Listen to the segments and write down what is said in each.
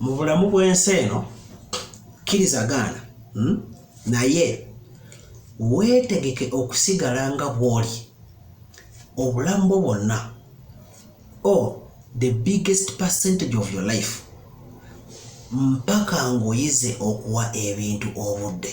mu bulamu bw'ensi eno kkiriza gaana hmm? naye weetegeke okusigala nga bw'oli obulamu bwo bwonna o oh, the biggest percentage of your life mpaka ng'oyize okuwa ebintu obudde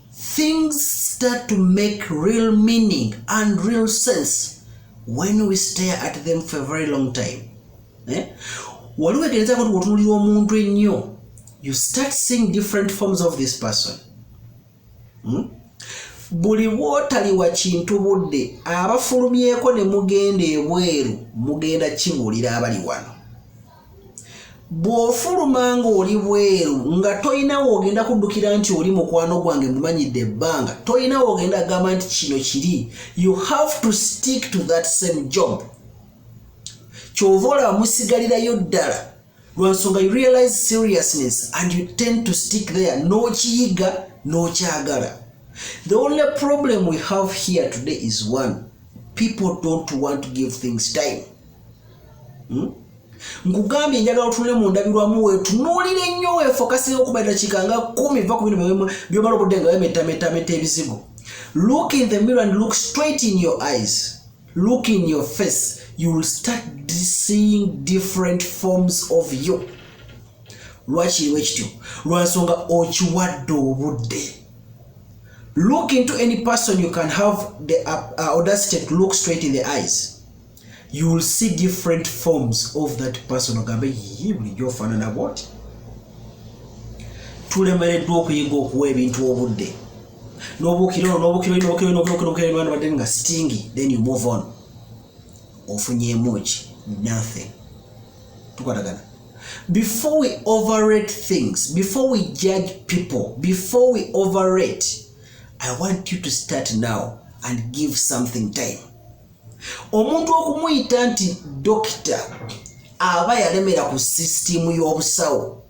Things start to make real meaning and real sense when we stare at them for a very long time eh? waliwo egereza koti wotunulira omuntu ennyo you start seeing different forms of this person hmm? buli bwotaliwa kintu budde abafulumyeko ne mugenda ebweru mugenda kibuulira abali wano bw'ofuluma ng'oli bweru nga tolina woogenda kuddukira nti oli mukwano gwange mumanyidde ebbanga tolina woogenda agamba nti kino kiri you have to stick to that same job kyova olaba musigalirayo ddala lwansonga you realize seriousness and you tend to stick there n'okiyiga n'okyagala the only problem we have here today is one people don't want to give things time hmm? nkugambye njagala otunule mu ndabirwamu wetunuulira ennyo wefokasira okuba eddakiika nga kumi va ku bino byomala obudde nga wemetametameta ebizigo look in the mirror and look straight in your eyes look in your face you will start seeing different forms of you lwakiriwo ekityo lwansonga okiwadde obudde look into any person you can have the uh, uh, audacity to look straight in the eyes you will see different forms of that person ogambe yiyi bulijjo ofaanana bwoti tulemereddwa okuyiga okuwa ebintu obudde nobukiro nobukiro nobukiro nobukiro nobukiro nga stingi then you move on ofunyemu ki nothing tukwatagana before we overrate things before we judge people before we overrate i want you to start now and give something time omuntu okumuyita nti dokita aba yalemera ku sisitiimu y'obusawo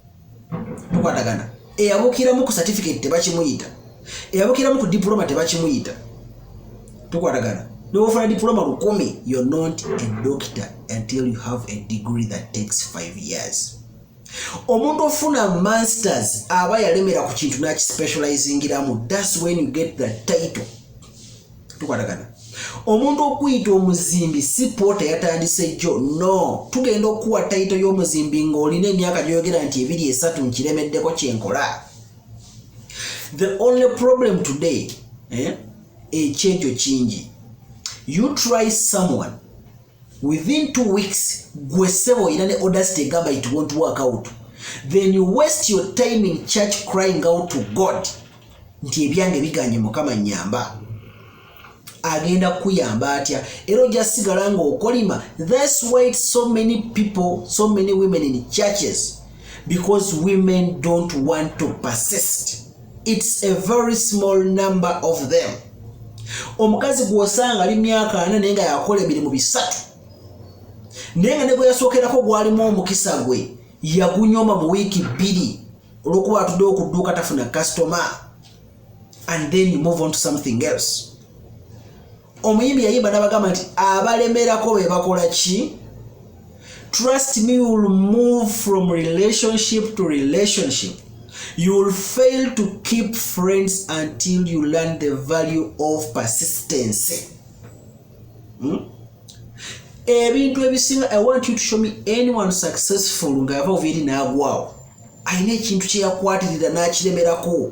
tukwatagana eyabukiramu ku satifiketi tebakimuyita eyabukiramu ku dipuloma tebakimuyita tukwatagana newofuna dipuloma lukumi yo not a doctor until you have a degree that takes five years omuntu ofuna masters aba yalemera ku kintu nakispecializingiramu thats when you get the title tukwatagana omuntu okuyita omuzimbi si poota yatandise jjo no tugenda okukuwa tayito y'omuzimbi ng'olina emyaka gyoyogera nti ebiri esatu nkiremeddeko kyenkola the only problem today eh, ekyejo kingi you try someone within two weeks gwe sebo ina ne audacity egamba it won't work out then you waste your time in church crying out to god nti ebyange biganye mukama nyamba agenda kuyamba atya era oja sigala nga okolima thats why so many people so many women in churches because women don't want to persist its a very small number of them omukazi gwosanga ali myaka ana naye nga yakola emirimu bisatu naye nga ne gwe yasookerako gwalimu omukisa gwe yagunyoma mu wiiki bbiri olwokuba atudde okudduuka tafuna customer and then you move on to something else omuyimbi yayimba nabagamba nti abalemerako bebakola ki trust me you will move from relationship to relationship you will fail to keep friends until you learn the value of persistency hmm? ebintu ebisinga i want you to show me anyone successful ngaava ovaeri naagwawo alina ekintu kyeyakwatirira n'akiremerako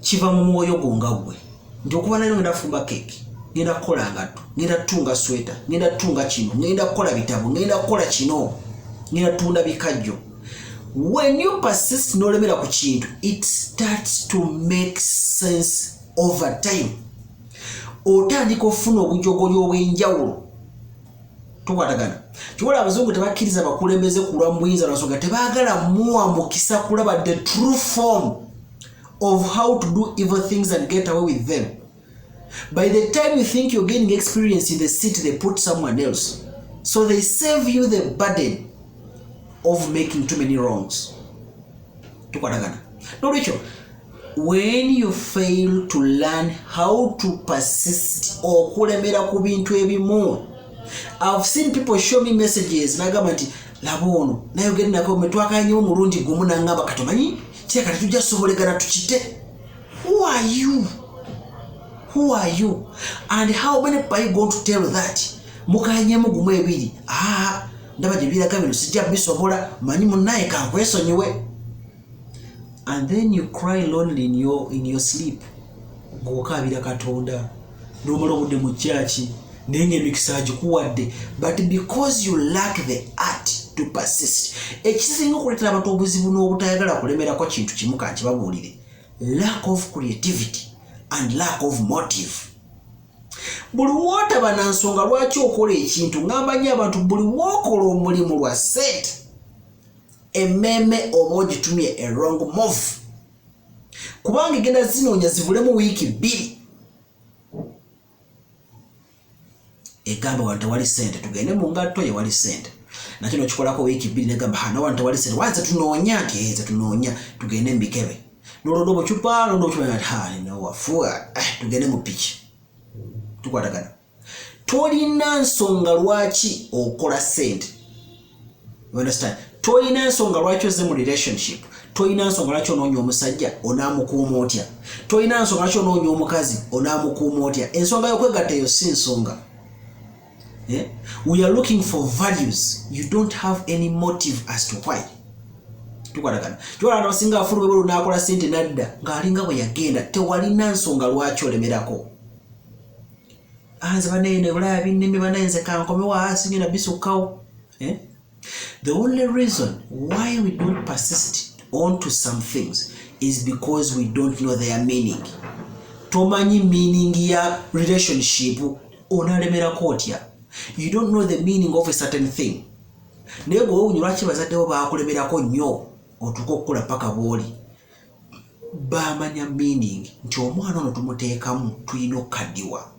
kiva mu mwoyo gwo nga gwe nti okuba nalyo ngenda kufumba keeki ngenda kukola ngatto ngenda kutunga sweta ngenda kutunga kino ngenda kukola bitabo ngenda kukola kino ngenda tunda bikajjo when you persist nolemera ku kintu it starts to make sense over time otandika ofuna obujogoli obwenjawulo tukwatagana kyobola abazungu tebakkiriza bakulembeze kulwa mu buyinza lwansonga tebaagala muwa mukisa kulaba the true form of how to do evil things and get away with them by the time you think you're gaining experience in the city they put someone else so they save you the burden of making too many wrongs tukwatagana nolwekyo when you fail to learn how to persist okulemera ku bintu ebimu i've seen people show me messages nagamba nti laba ono nayogere nako metwakanyewo omulundi gumu nangamba katomanyi kireka tetujja sobolegana tukite who are you who are you and how many people are you going to tell that mukanyemu gumu ebiri aa ah, ndaba gye biraga bino sijja bisobola manyi munaye kankwesonyiwe and then you cry lonely in your, in your sleep ngaokaabira katonda nomala obudde mu kyaki naye ngaemikisa agikuwadde but because you lack the art to persist ekisinga okuleetera abantu obuzibu n'obutayagala kulemerako kintu kimu kankibabuulire lack of creativity and lack of motive buli wotaba na nsonga lwaki okola ekintu ŋamba nyo abantu buli wokola omulimu lwa sente emmeeme oba ogitumye erong move kubanga egenda zinoonya zibulemu wiiki bbiri egamba wano tewali sente tugende mu ngatto yewali sente nakino kikolako wiiki bbiri negamba hanawantu tewali sente wanze tunoonya nti ezetunoonya tugende mubikebe nolonda obucupa londa obucupawafuwa eh, tugende mu piki tukwatagana tolina nsonga lwaki okola sente tolina nsonga lwaki oze mu relationship tolina nsonga lwaki onoonya omusajja onaamukuuma otya tolina nsonga lwaki onoonya omukazi onaamukuuma otya ensonga yokwegatta eyo si nsonga eh? we are looking for values you don't have any motive as to why tukwatagana kiwalana basinga afulu bwebulu nakola sente nadda ngaalinga bwe yagenda tewalina nsonga lwaki olemerako anze ah, banaye nebulaya bineme banaye nze kankomewo asinga ah, nabisukkawo eh? The only reason why we don't persist on to some things is because we don't know their meaning. Tomanyi meaning ya relationship onalemerako otya. You don't know the meaning of a certain thing. Naye gwe wewunya lwaki bazaddewo baakulemerako nnyo otuuka okukula paka bwoli. baamanya meaning nti omwana ono tumuteekamu tulina okukaddiwa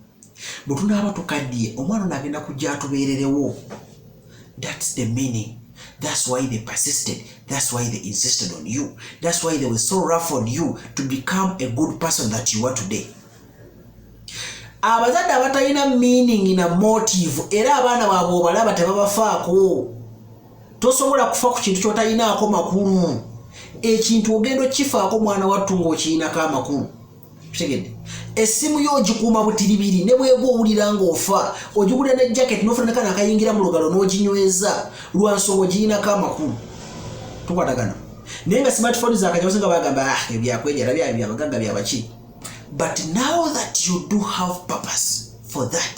bwe tunaaba tukaddiye omwana ono agenda kujja atubeererewo thats the meaning thats why they persisted thats why they insisted on you thats why they were so rough on you to become a good person that you are today abazadde abatalina meaning na motive era abaana baabwe obalaba tebabafaako tosobola kufa ku kintu kyotalinaako makulu ekintu ogenda okifaako mwana wattu ngaokirinako amakulu kitegedde essimu yo ogikuuma butiribiri ne bwega owulira ngaofa ogigulira ne jacket nofunanakana akayingira mu lugalo n'oginyweza lwa nsonga ogirinako amakulu tukwatagana naye nga smartphone zakajawose nga bagamba ah, ebyakwejara byayo byabagagga byabaki but now that you do have purpose for that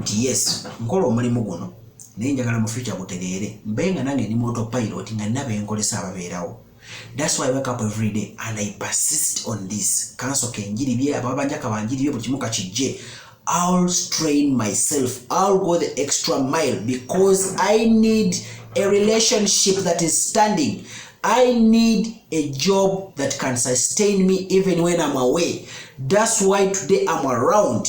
nti yes nkola omulimu guno naye njagala mu future gutereere mbe nga nange ndi moto pilot nga nina benkolesa ababeerawo thats why wake up every day and i persist on this kanso kenjiri bye ababa banja kabanjiri bye buli kimu kakijje i'll strain myself i'll go the extra mile because i need a relationship that is standing i need a job that can sustain me even when i'm away thats why today i'm around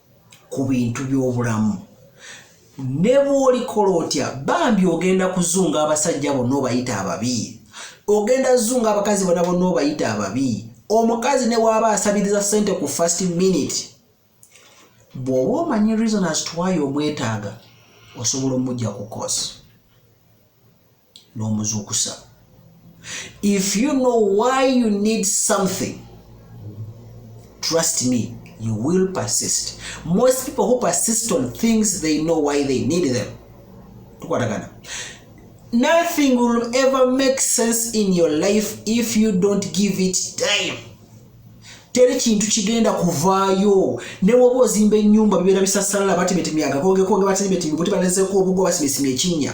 ku bintu by'obulamu ne bw'olikola otya bambi ogenda kuzunga abasajja bonna obayita ababi ogenda zunga abakazi bona bonna obayita ababi omukazi ne waaba asabiriza sente ku first minute bw'oba omanyi reason as twayo omwetaaga osobola omujja ku kosi n'omuzuukusa if you know why you need something trust me you will persist most people who persist on things they know why they need them tukwatagana nothing will ever make sense in your life if you don't give it time teri kintu kigenda kuvaayo newoba ozimba enyumba bibeera bisasalala batebetemyagakongekonge batebetembuti balezeko obugo basimisimi ekinya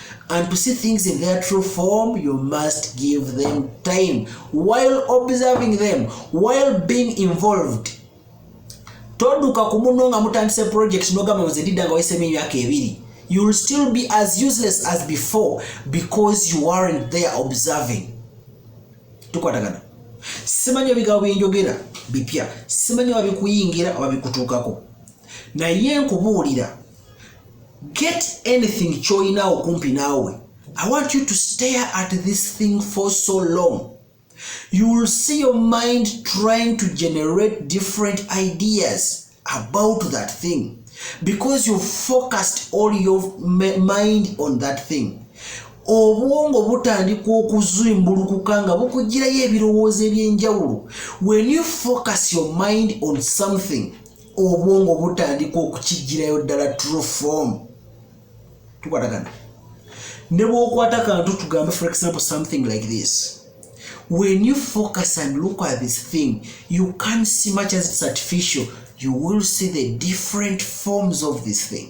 and to see things in their true form you must give them time while observing them while being involved toduka ku muno nga mutandise project nogamba nze ndidda nga wayisemu emyaka ebiri you will still be as useless as before because you aren't there observing tukwatagana simanyi ebigambo byenjogera bipya simanyi oba bikuyingira oba bikutuukako naye nkubuulira get anything kyoyina okumpi naawe i want you to stare at this thing for so long you will see your mind trying to generate different ideas about that thing because you focused all your mind on that thing obwongo butandika okuzimbulukuka nga bukugirayo ebirowoozo ebyenjawulo when you focus your mind on something obwongo butandika okukijjirayo ddala true form tukwatagana ne bwokwata kantu tugambe for example something like this when you focus and look at this thing you can see much as it's artificial you will see the different forms of this thing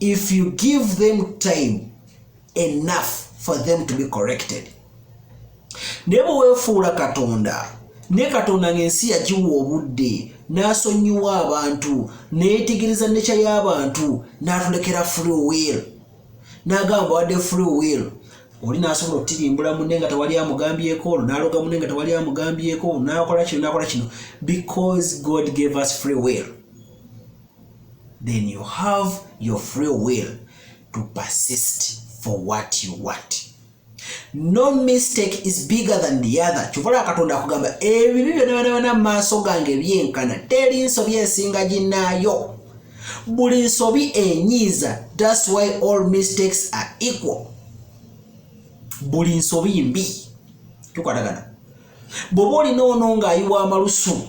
if you give them time enough for them to be corrected naye bwe weefuula katonda ne katonda ng'ensi yagiwa obudde n'asonyiwa abantu neyetegereza nekya y'abantu n'atulekera free will n'agamba wadde free will oli nasobola okutirimbula munne nga tewali amugambyeko olwo naloga munne nga tewali amugambyeko nakola kino nakola kino because god gave us free will then you have your free will to persist for what you want no mistake is bigger than the other kyovala katonda akugamba ebibi byonabanawana maaso gange byenkana teri nsobi esinga ginaayo buli nsobi enyiiza thats why all mistakes are equal buli nsobi mbi tukwatagana bwoba olina ono ng'ayiwa amalusu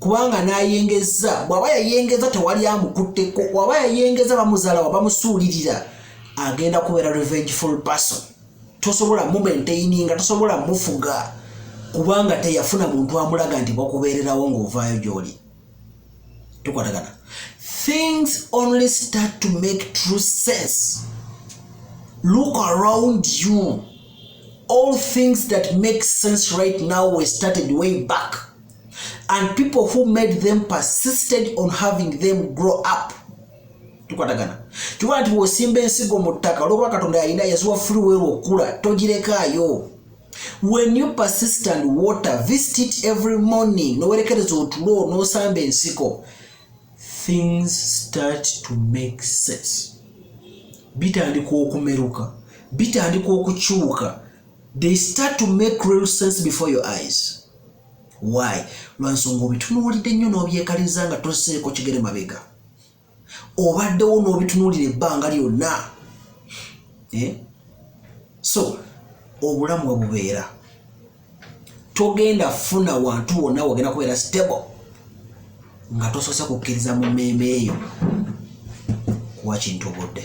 kubanga nayengezza bwaba yayengeza tewali amukutteko waba yayengeza bamuzalawa bamusuulirira agenda kubeera revengeful person tosobola mumaintaininga tosobola mufuga kubanga teyafuna muntu amulaga nti bakubeererawo ngaovaayo gyoli tukwatagana things only start to make true sense look around you all things that make sense right now we started way back and people who made them persisted on having them grow up tukwatagana kiwa nti wosimba ensigo mu ttaka olwokuba katonda yalina yaziwa freewell okukula togirekaayo when you persist and water visit it every morning nowerekereza otulo nosamba ensiko things start to make sense bitandika okumeruka bitandika okukyuka they start to make real sense before your eyes why lwansonga obitunuulidde nnyo n'obyekaliriza nga toseeko kigere mabega obaddewo n'obitunuulira ebbanga lyonna eh? so obulamu we bubeera togenda funa wantu wonna wagenda kubeera stable nga tosoose kukkiriza mu mmeeme eyo kuwa kintu obudde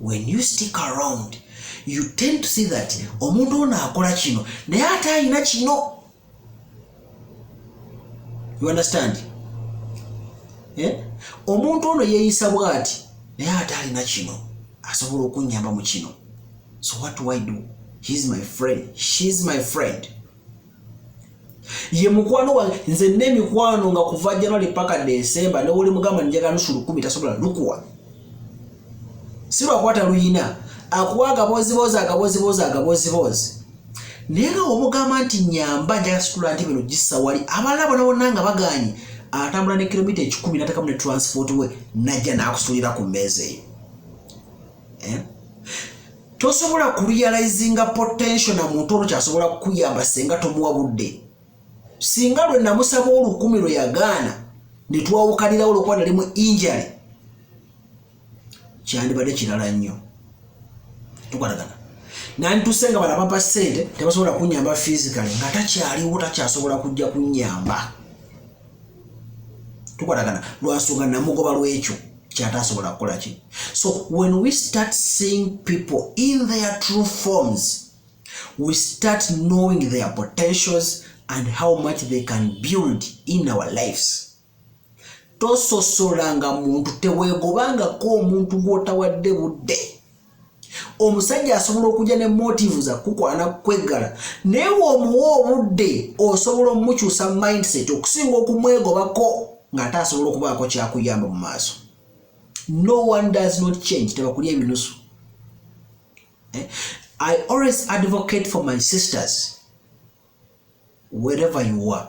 when you stick around you tend to see that omuntu ono akola kino naye ate alina kino you understand eh? omuntu ono yeeyisa bwati naye ate alina kino asobola okunyamba mu kino so what do i do heis my friend sheis my friend ye mukwano wange nze n'emikwano nga kuva january paka desemba newoli mugamba njaga nusu lukumi tasobola lukuwa si lwakwata luyina akuwa agaboziboozi agaboziboozi agaboziboozi naye nga omugamba nti nyamba njaga situla nti bino gissa wali abalala bonabona nga baganye atambula ne kilomita ekikumi natekamu ne transport we najja nakusulira ku mmeeza eyo eh? tosobola kurealizinga potential na muntu ono kyasobola kukuyamba senga tomuwa budde singa lwe namusaba olukumi lwe yagaana ne twawukanirawo olwokuba nali mu injale kyandibadde kirala nnyo tukwatagana nandituse nga balabapa sente tebasobola kunyamba physically nga takyaliwo takyasobola kujja kunyamba tukwatagana lwansonga namugoba lwekyo kyatasobola kukola ki so when we start seeing people in their true forms we start knowing their potentials and how much they can build in our lives tososolanga muntu teweegobangako omuntu gw'otawadde budde omusajja asobola okujja ne motive za kukwana kweggala naye womuwa obudde osobola omukyusa mindset okusinga okumwegobako ng'ate asobola okubaako kyakuyamba mu maaso no one does not change tebakuli ebinusu eh? i always advocate for my sisters wherever you are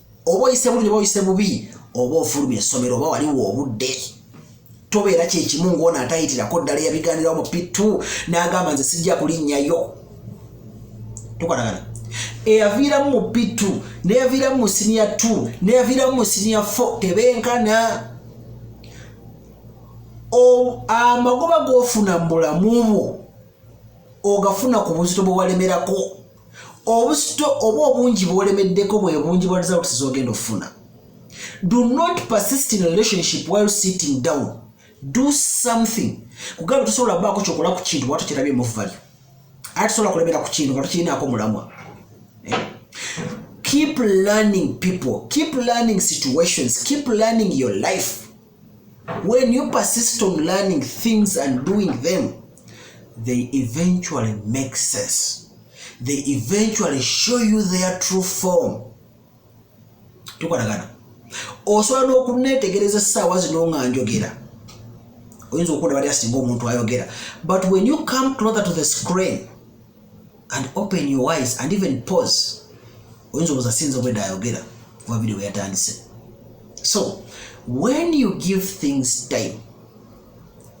oba oyise bulungi oba oyise bubi oba ofulumya essomero oba waliwo obudde tobeera kyekimu ngaono atayitirako ddala eyabiganirawo mu pittu n'agamba nze sijja kulinnyayo tukwatagana eyaviiramu mu pittu neyaviiramu mu siniya t neyaviiramu mu siniya fo tebenkana amagoba gofuna mu bulamu bwo ogafuna ku buzito bwewalemerako obusito oba obungi bwolemeddeko bwe bungi bwa results zogenda okufuna do not persist in relationship while sitting down do something kugamba tosobola baako kyokola ku kintu watu kirabye mu value ate tosobola kulemera ku kintu nga tukirinaako mulamwa eh? keep learning people keep learning situations keep learning your life When you persist on learning things and doing them, they eventually make sense. They eventually show you their true form. Tukwatagana. Osobola n'okuneetegereza essaawa zino nga njogera. Oyinza okuwulira bali asinga omuntu ayogera. But when you come closer to the screen, and open your eyes and even pause oyinza obuza sinza obwedda ayogera kuba video yatandise so when you give things time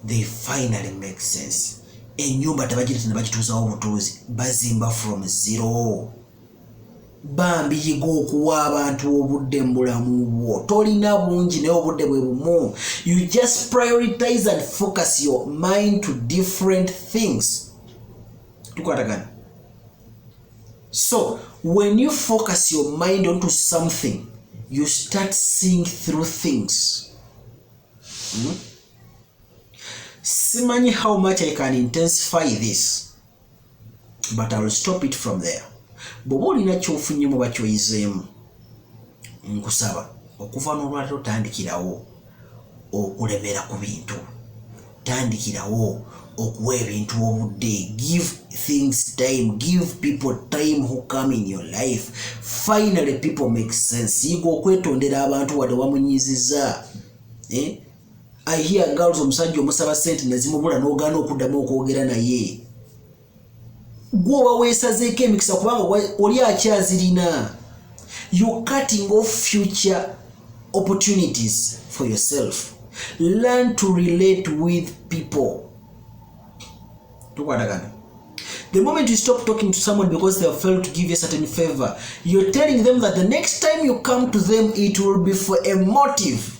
they finally make sense enyumba tebagireta nebagituuzawo obutuuzi bazimba from zero bambi yiga okuwa abantu obudde mu bulamu bwo tolina bungi naye obudde bwe bumu you just prioritize and focus your mind to different things tukwatagana so when you focus your mind onto something you start seeing through things hmm? simanyi how much i can intensify this but iwill stop it from there bwoba olina kyofunyemu oba kyoyizeemu nkusaba okuva n'olwaliro tandikirawo okulemera ku bintu tandikirawo okuwa ebintu obudde give things time give people time who come in your life finally people make sense yiga okwetondera abantu wadde wamunyiziza eh? I hear girls omusajja omusaba sente nezimubula nogana okuddamu okwogera naye gwe oba wesazeeko emikisa kubanga oli akyazirina you cutting off future opportunities for yourself learn to relate with people tukwatagana the moment you stop talking to someone because they have failed to give you a certain favor you're telling them that the next time you come to them it will be for a motive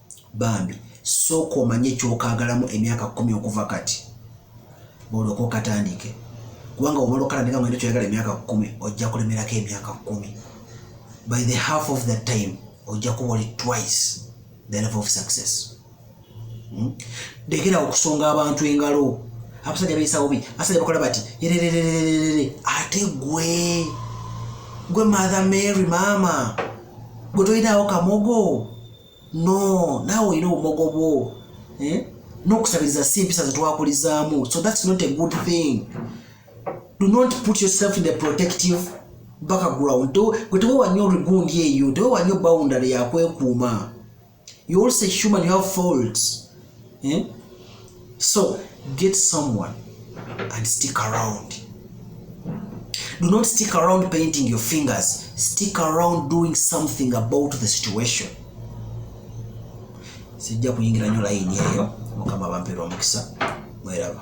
bambi sooka omanye kyokagalamu emyaka kumi okuva kati olwoke okatandike kubanga womala okalandika ngende kyoyagala emyaka kumi ojja kulemerako emyaka kumi by the half of the time ojja kuba oli twice the level of success hmm? dekera okusonga abantu engalo abasajja beyisawo bi abasajja bakola bati yerererererere ate gwe gwe mother mary maama gwe toyinaawo kamogo no naawe olina obumogo bwo eh? n'okusabiriza si empisa zetwakulizaamu so that's not a good thing do not put yourself in the protective background gwe tewewa nnyo rigundi eyo tewewa nnyo boundary yakwekuuma you also human you have faults eh? so get someone and stick around do not stick around painting your fingers stick around doing something about the situation sijja kuyingira nyo layini eyo mukama bampeera omukisa mweraba